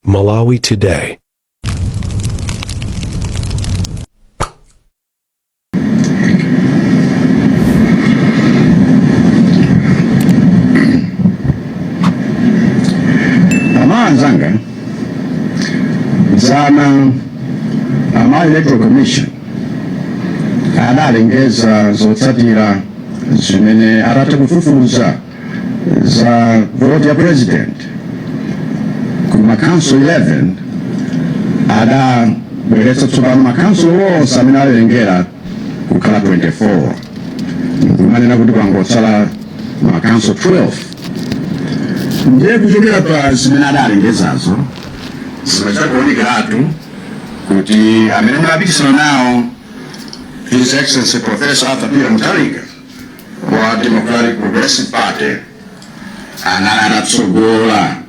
Malawi Today. Anzanga dzana ama electoral commission adalengeza zotsatira zimene atatha kufufuza za vote ya president ku makhonsolo 11 adabweretsa tsopano makhonsolo onse amene alengeza kukhala 24 kumanena kuti kwangotsala makhonsolo 12 ndiye kuchokera pa zimene adalengezazo zimachita kuonekeratu kuti amene ndapikisana nawo his excellency professor arthur peter mutharika wa Democratic Progressive Party anali atatsogola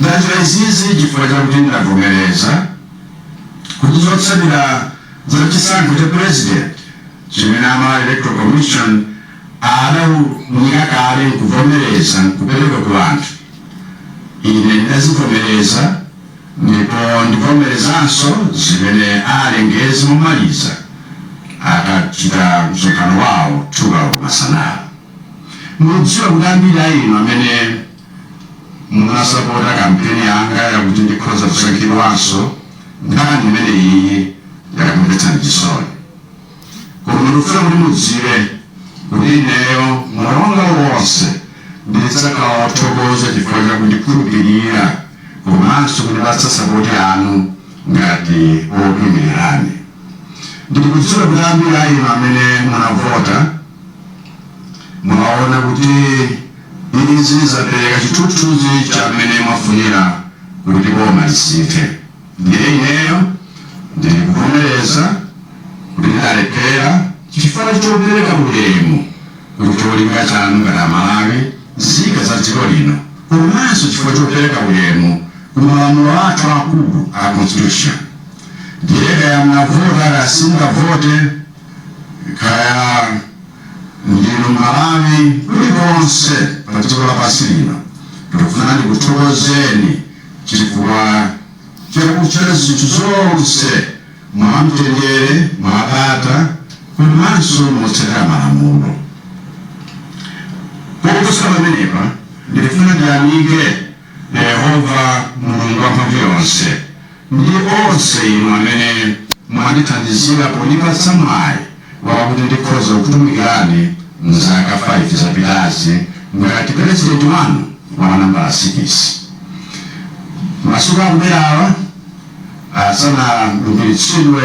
ndachita izizi chifukwa chakuti ndavomereza kuti zotsatira za chisankho cha president chimene ama electoral commission adaunika kale nkuvomereza nkupereka ku anthu ine ndazivomereza Ndipo ndivomerezanso zimene alengeze momaliza akachita msonkhano wawo 2 koloko masana ano. Ndidziwa kuti ambiri a inu amene munasapota kampeni yanga yakuti ndikhoza kusankhidwanso, nkhani imeneyiyi yakumvetsani chisoni. Koma ndikufuna kuti mudziwe kuti ineyo moyo wanga wonse ndidzakhala wothokoza chifukwa cha kundikhulupirira komanso kundipatsa sapoti yanu ngati wokuimirirani. Ndikudziwa kuti ambiri a inu amene munavota mwaona kuti izi zapereka chithunzithunzi cha mmene mwafunira kuti boma lisinthe. Ndiye ineyo ndikuvomereza kuti ndalephera chifukwa chopereka ulemu ku cholinga chanu ngati Amalawi, nzika za dziko lino komanso chifukwa chopereka ulemu ku malamulo athu akulu a Constitution. Ndiye kaya mnavota kaya simunavote, kaya ndinu Mmalawi kulikonse pa dziko lapansi lino, ndikufuna ndikuthokozeni Chifukwa cha kuchita zinthu zonse mwamtendere, mwabata komanso motsatira malamulo. Koposa pamenepa, ndikufuna ndiyamike Yehova, Mulungu Wamphamvuyonse, ndi onse inu amene mwandithandizira pondipatsa mwayi wakuti ndikhoza kutumikirani m'zaka 5 zapitazi ngati pulezidenti wanu wa nambala sikisi. Masiku akubwerawa asanalumbiritsidwe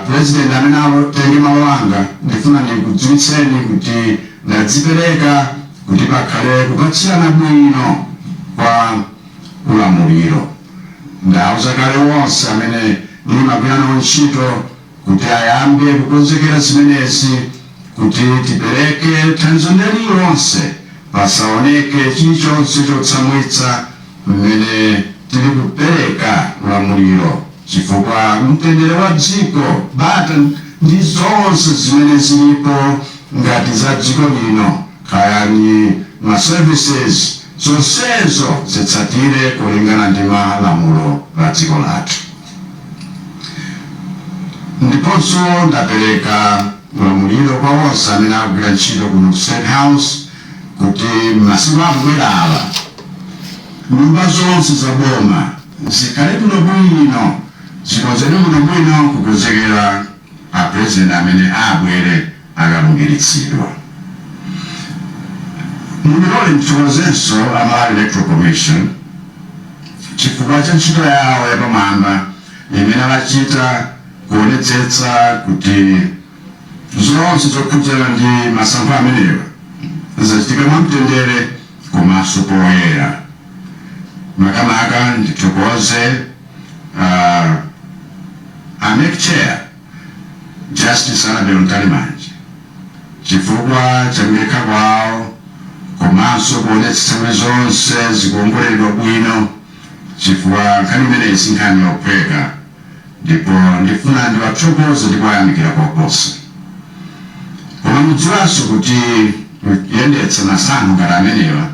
pulezidenti amene atenge malo anga, ndifuna ndikudziwitseni kuti ndadzipereka kuti pakhale kupatsirana bwino kwa ulamuliro. Ndauza kale onse amene ndimagwira nawo ntchito kuti ayambe kukonzekera zimenezi kuti tipereke thandizo lililonse pasaoneke chilichonse chotsamwitsa mmene tili kupereka ulamuliro chifukwa mtendere wa dziko, bata ndi zonse zimene zilipo ngati za dziko lino kaya ndi ma services zonsezo zitsatire kulingana ndi malamulo a dziko lathu. Ndiponso ndapereka ulamuliro kwa onse amene akugwira ntchito kuno ku State House kuti m'masiku akubwerawa, nyumba zonse za boma zikhale bwinobwino, zikonzedwe bwinobwino kukonzekera. a president amene abwere akalumbiritsidwa mundilole ndithokozenso a Malawi Electoral Commission chifukwa cha ntchito yawo yapamwamba imene achita kuonetsetsa kuti zonse zokhudzana ndi masankho amenewa zachitika mwamtendere komanso poyera makamaka ndithokoze a MEC chair justice Annabel Mtalimanja chifukwa cha kudekha kwawo komanso kuonetsetsa kuti zonse zikuongoleredwa bwino chifukwa nkhani imeneyi si nkhani yophweka ndipo ndifuna ndiwathokoze ndi kuwayamikira koposa koma mudziwanso kuti kuyendetsa masankho ngati amenewa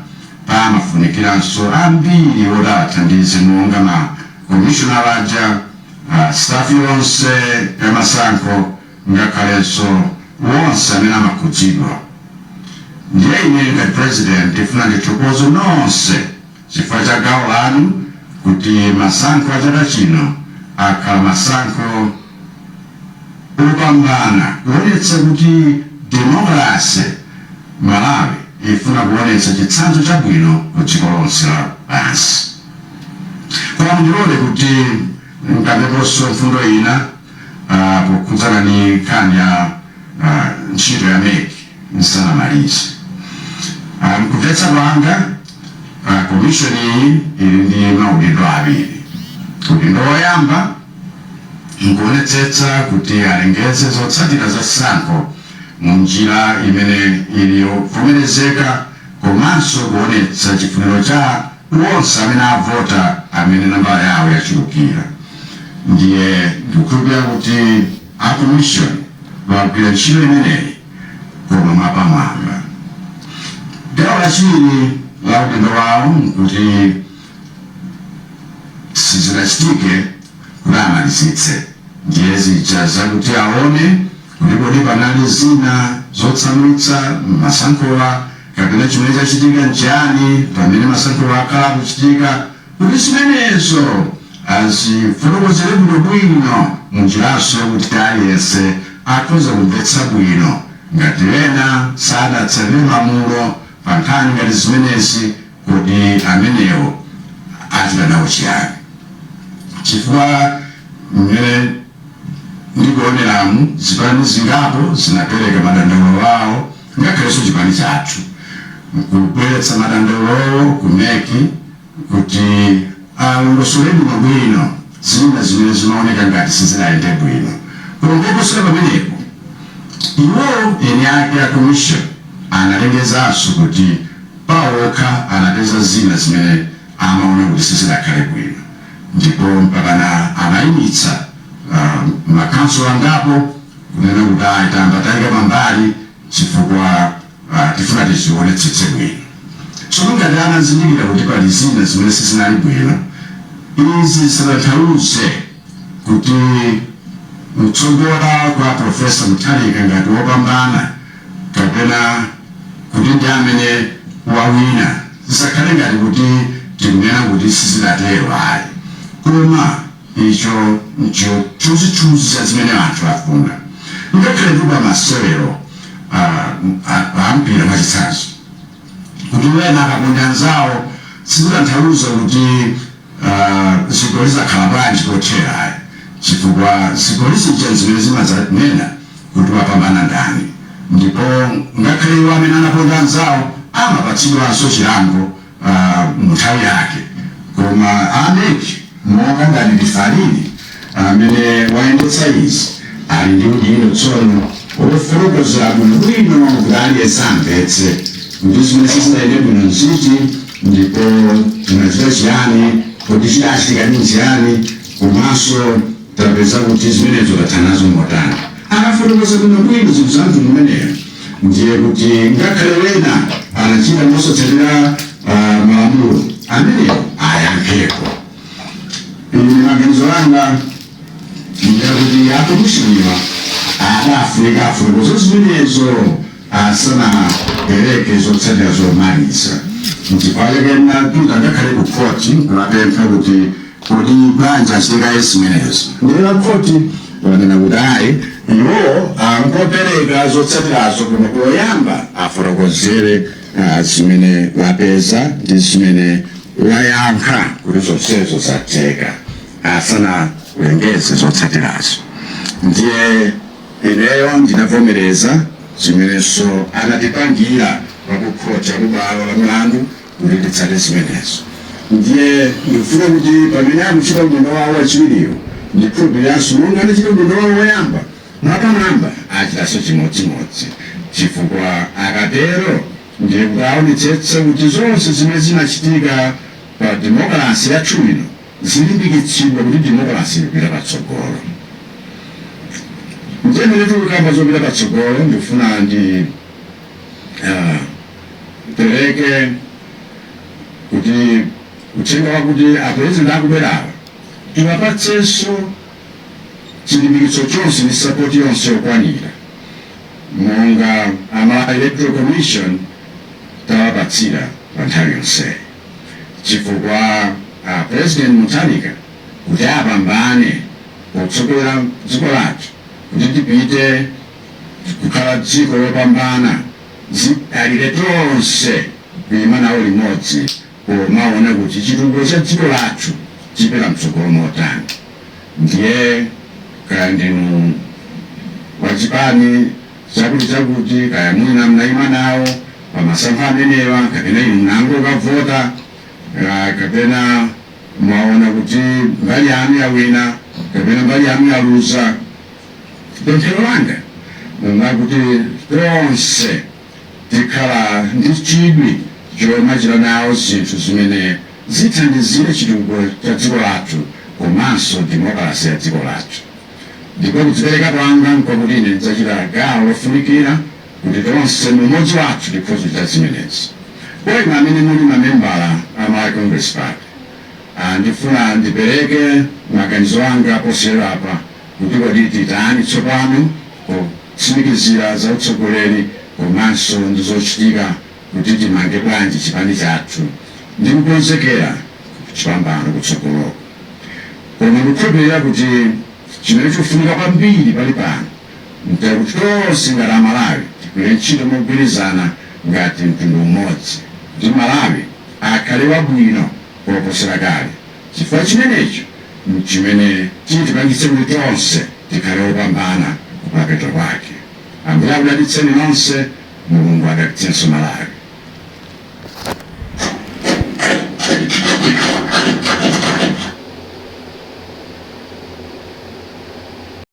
Pamafunikiranso ambiri oti awathandize monga ma komishonala aja, a staff yonse ya masankho ngakhalenso wonse amene amakhudzidwa. Ndiye ineyo ngati president ndifuna ndithokoze nonse chifukwa cha gawo lanu kuti masankho a chaka chino akhale masankho. opambana kuonetsa kuti demokrase Malawi ifuna kuonetsa chitsanzo chabwino ku dziko lonse lapansi. Koma mundilole kuti nkambeponso mfundo ina pokhudzana ndi nkhani ya ntchito ya mec nsanamalize. M'kumvetsa kwanga komishoni iyi ili ndi maudindo awiri. Udindo woyamba. nkuonetsetsa kuti alengeze zotsatira za sankho mu njira imene ili yovomerezeka komanso kuonetsa chifuniro cha onse amene avota amene nambala yawo yachulukira. Ndiye ndikukhulupirira kuti a Komishoni agwira ntchito imeneyi koma mwapamwamba. Gawo lachiwiri la udindo wawo nkuti. sizidachitike kuti amalizitse ndiye zija zakuti awone kuti kodi panali zina zotsamwitsa mmasankhowa kapena chimene chachitika nchiyani pamene masankhowa akhala akuchitika kuti zimenezo azifotokozere bwino bwino munjiranso yakuti aliyense akhoza kumvetsa bwino ngati ena sadatsatire malamulo pankhani ngati zimenezi Kuti amenewo achita nawo chiyani? Chifukwa mmene ndikuoneramu, zipani zingapo zinapereka madandaulo awo, ngakhalenso chipani chathu, kubweretsa madandaulowo ku mec kuti alongosole bwinobwino zina zimene zimaoneka ngati sizinayende bwino. Koma koposera pamenepo, iwo eni ake a commission analengezanso kuti. pawokha anapeza zina zimene amaona kuti sizinakhale bwino ndipo mpakana anaimitsa uh, ma council angapo kunena kuti ayi tayamba taika pambali chifukwa uh, tifuna tizionetsetse bwino. Tsono ngati anazindikira kuti pali zina zimene sizinali bwino, izi zisatanthauze kuti kutsogola kwa Professor Mutharika ngati wopambana kapena kuti ndi amene wawina zisakhale ngati kuti tikunena kuti sizidatero ayi koma icho nchithunzithunzi cha zimene anthu afuna ngakhale kuti pa masewero a a mpira mwachitsanzo kuti wena akaponda anzawo sizitanthauza kuti Aaa zigoli zakhala bwanji kothera ayi chifukwa zigoli zija nzimene zimazanena kuti wapambana ndani ndipo ngakhale iwo amene anaponda anzawo amapatsidwanso chilango aah munthawi yake koma a mec monga ngati referee ndi Amene wayendetsa izi ali ndi udindo tsono wofotokozera bwinobwino kuti aliyense amvetse kuti zimene sizinayende bwino nziti ndipo tinachita chiyani, kodi chidachitika ndi chiyani komanso tapeza kuti zimenezo tatha nazo motani. Akafotokoza bwinobwino zinthu za mtundu umeneyo ndiye kuti ngakhale wena anachita mosatsatira ah, malamulo amenewo ayankhepo. Ine maganizo anga ndiyakuti akomishoniwa adafunika afotokoze zimenezo asanapereke zotsatira zomaliza nchifukwa chake anapita ngakhale ku khoti kukapempha kuti kodi bwanji asiye kaye zimenezo ndiye a khoti wanena kuti ayi iwo angopereka zotsatirazo koma poyamba afotokozere ah, zimene wapeza ndi zimene wayankha kuti zonsezo zatheka asanalengeze zotsatirazo ndiye ineyo ndinavomereza zimenenso anatipangira akukhoti kubwalo la milandu kuti titsate zimenezo ndiye ndifuna kuti pamene akuchita udindo wawo wachiwiriwo ndikhulupiriranso monga anachita udindo wawo woyamba Mwapamwamba achitanso chimodzimodzi, chifukwa akatero ndiye kuti aonetsetsa kuti zonse zimene zinachitika pa demokalase yathu ino zilimbikitsidwa kuti demokalase ikupita patsogolo. Ndiye pamene tikukamba zopita patsogolo, ndikufuna ndi ah, pereke kuti uthenga wakuti apurezidenti akubwerawa tiwapatsenso chilimbikitso chonse ndi sapoti yonse yokwanira monga ama electoral commission tawapatsira pa nthawi yonseyi chifukwa a president mutharika kuti apambane potsogolera dziko lathu kuti tipite kukhala dziko lopambana zidalire tonse kuima nawo limodzi kumaona kuti chitukuko cha dziko lathu chipita mtsogolo motani ndiye kaya ndinu wa chipani chakuti chakuti kaya mwina mnayima nawo pamasankho amenewa kapena inu munangokavota kapena mwaona kuti mbali yanu yawina kapena mbali yanu yaluza pemphero langa nlakuti tonse Tikhale ndi chidwi chomachita nawo zinthu zimene zithandizire chitukuko cha dziko lathu komanso demokalase ya dziko lathu. Ndipo kudzipereka kwanga nkwakuti ine ndidzachita gawo lofunikira kuti tonse mu umodzi wathu tikhoze kuchita zimenezi. Kwa inu amene muli mamembala a Malawi Congress Party, a ndifuna ndipereke maganizo anga posachedwapa kuti kodi titani tsopano. potsimikizira za utsogoleri komanso ndi zochitika kuti timange bwanji chipani chathu ndi kukonzekera chipambano kutsogoloku. Koma ndikukhulupirira kuti chimene chikufunika kwambiri pali pano nkuti tonse ngati Amalawi tigwire ntchito mogwirizana ngati mtundu umodzi kuti Malawi akhale wabwino koposera kale. chifukwa chimenecho n'chimene chitipangitse kuti tonse tikhale opambana kumapeto kwake. Ambuye akudalitseni nonse, Mulungu adalitsenso Malawi.